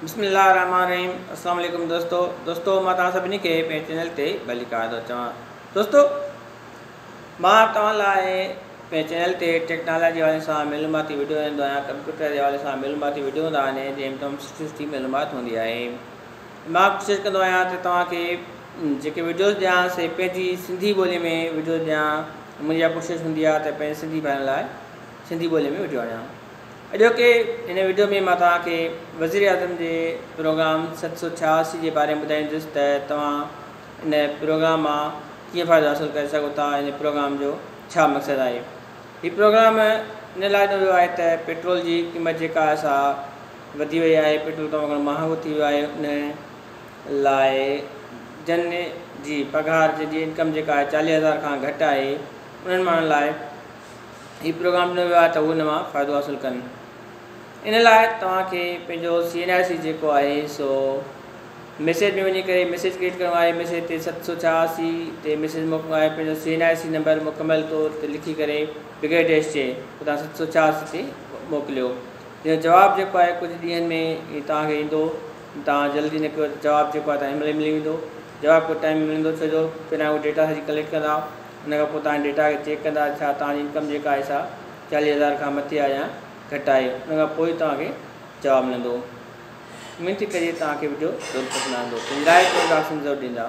بسم الله الرحمن الرحيم اسلام عليڪم دوستو دوستو مان توهان سڀني کي پنهنجي چينل تي ڀلي ڪار ٿو چوان دوستو مان توهان لاء پنهنجي چينل تي ٽيڪنالاجي وارن سان معلوماتي ويڊيو آندو آهيان ڪمپيوٽر جي حوالي سان معلوماتي ويڊيو ٿا آنين جنهن ۾ تمام سٺي سٺي معلومات هوندي آهي مان ڪوشش ڪندو آهيان ته توهان کي جيڪي ويڊيوز ڏيان سي پنهنجي سنڌي ٻولي ۾ ويڊيوز ڏيان منهنجي اها ڪوشش هوندي آهي ته پنهنجي سنڌي ڀائرن لاء سنڌي ٻولي ۾ ويڊيو آڻيان اڄوڪي هن وڊيو ۾ مان توهان کي وزيراعظم جي پروگرام ست سؤ ڇهاسي جي باري ۾ ٻڌائيندس ته توهان ان پروگرام مان ڪيئن فائدو حاصل ڪري سگهو ٿا ۽ هن پروگرام جو ڇا مقصد آهي. هي پروگرام ان لاء ڏنو ويو آهي ته پيٽرول جي قيمت جيڪا آهي سا وڌي وئي آهي پيٽرول تمام گهڻو مهانگو ٿي ويو آهي ان لاء جن جي پگهار جن جي انڪم جيڪا آهي چاليهه هزار کان گهٽ آهي انهن ماڻهن لاء هي پروگرام ڏنو ويو آهي ته هو ان مان فائدو حاصل ڪن ان لاء توهان کي پنهنجو سي اين آر سي جيڪو آهي سو ميسيج ۾ وڃي ڪري ميسيج ڪريٽ ڪرڻو آهي ميسيج تي ست سو ڇهاسي تي ميسيج موڪلڻو آهي پنهنجو C N R C number مڪمل طور تي لکي ڪري بغير ڊيش جي توهان ست سو ڇهاسي تي موڪليو جنهن جو جواب جيڪو آهي ڪجهه ڏينهن ۾ هي توهان کي ايندو توهان جلدي نه ڪيو جواب جيڪو آهي توهان کي ملي ملي ويندو جواب ڪجهه ٽائم ملندو ڇو جو پهريان هو ڊيٽا سڄي ڪليڪٽ ڪندا ان کان پوء توهان جي ڊيٽا کي چيڪ ڪندا ته ڇا توهان جي انڪم جيڪا آهي سا چاليهه هزار کان مٿي آهي يا گهٽ آهي ان کان پوء ئي توهان کي جواب ملندو اميد ٿي ڪجي توهان کي وڊيو ضرور پسند آندو پنهنجي راء ڪمينٽ باڪس ۾ ضرور ڏيندا.